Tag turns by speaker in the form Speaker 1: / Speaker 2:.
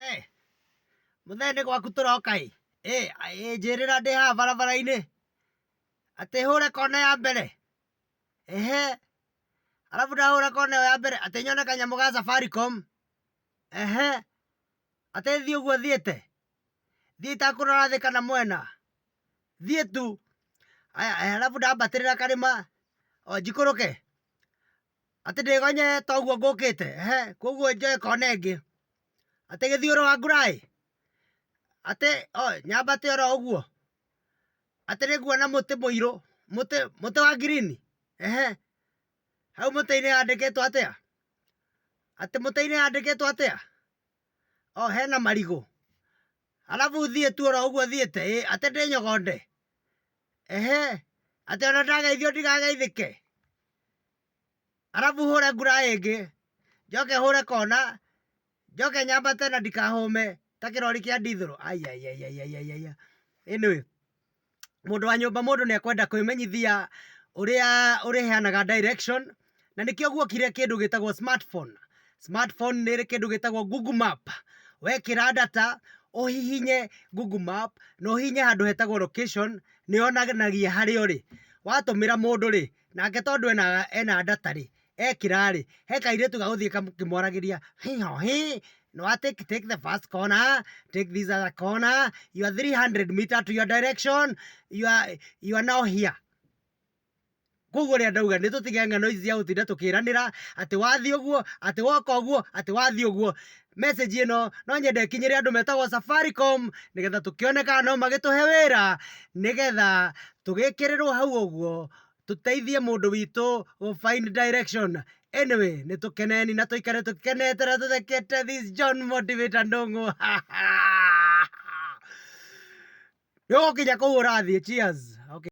Speaker 1: Eh, mũthee nĩ gwaku tũroka ĩ ĩ ĩ, njĩrĩra ndĩ haha barabara-inĩ atĩ hũre kona ya mbere ehe arabu ndahũra kona ĩyo ya mbere atĩ nyone kanyamũ ga Safaricom ehe atĩ thiĩ ũguo thiĩte thiĩ itakũrora thĩ kana mwena thiĩ tu aya aya arabu ndambatĩrĩra karĩma o njikũrũke atĩ ndĩgonye toguo ngũkĩte ehe koguo njoe kona ĩngĩ. atĩ gĩthiũrũ wa ngũraĩ atĩ nyambate oro ũguo atĩ nĩnguona mũtĩ mũirũ mũtĩ mũtĩ wa ngirini ehe hau mũtĩ-inĩ handĩkĩtwo atĩa atĩ mũtĩ-inĩ handĩkĩtwo atĩa o hena marigũ arabu thiĩ tu oro ũguo thiĩte ĩ atĩ ndĩnyogonde ehe atĩ ona ndageithio ndigageithĩke. arabu hũre ngura ĩngĩ njoke hũre kona njoke nyambate na ndikahũme ta kĩrori kĩa ndithũrũ aiaiaiaiaiaia anyway mũndũ wa nyũmba mũndũ nĩ ekwenda kwĩmenyithia ũrĩa ũrĩheanaga direction na nĩkĩo guokire kĩndũ gĩtagwo smartphone smartphone nĩ ĩrĩ kĩndũ gĩtagwo google map wekĩra data ũhihinye google map na ũhihinye handũ hetagwo location nĩ yonanagia harĩa ũrĩ watũmĩra mũndũ rĩ Nake tondũ ena data rĩ, ekĩra rĩ, he kairĩtu gagũthiĩ gakĩmwaragĩria hĩ ho hĩ, nĩ wa take the first corner, take this other corner, you are 300 meter to your direction, you are now here. Kũguo ũrĩa ndauga nĩ tũtige ng'ano ici cia gũtinda tũkĩranĩra atĩ wathiĩ ũguo, atĩ woka ũguo, atĩ wathiĩ ũguo. message ĩno no nyende ĩkinyĩre andũ metagwo Safaricom nĩgetha tũkĩone kana no magĩtũhe wĩra nĩgetha tũgĩkĩrĩrwo hau ũguo tũteithie mũndũ witũ gũ find direction. Anyway nĩ tũkeneni na tũikare tũkenete na tũthekete this John Motivator Ndũng'ũ. Nĩ ũgũkinya kũu ũrathiĩ. Cheers. Okay.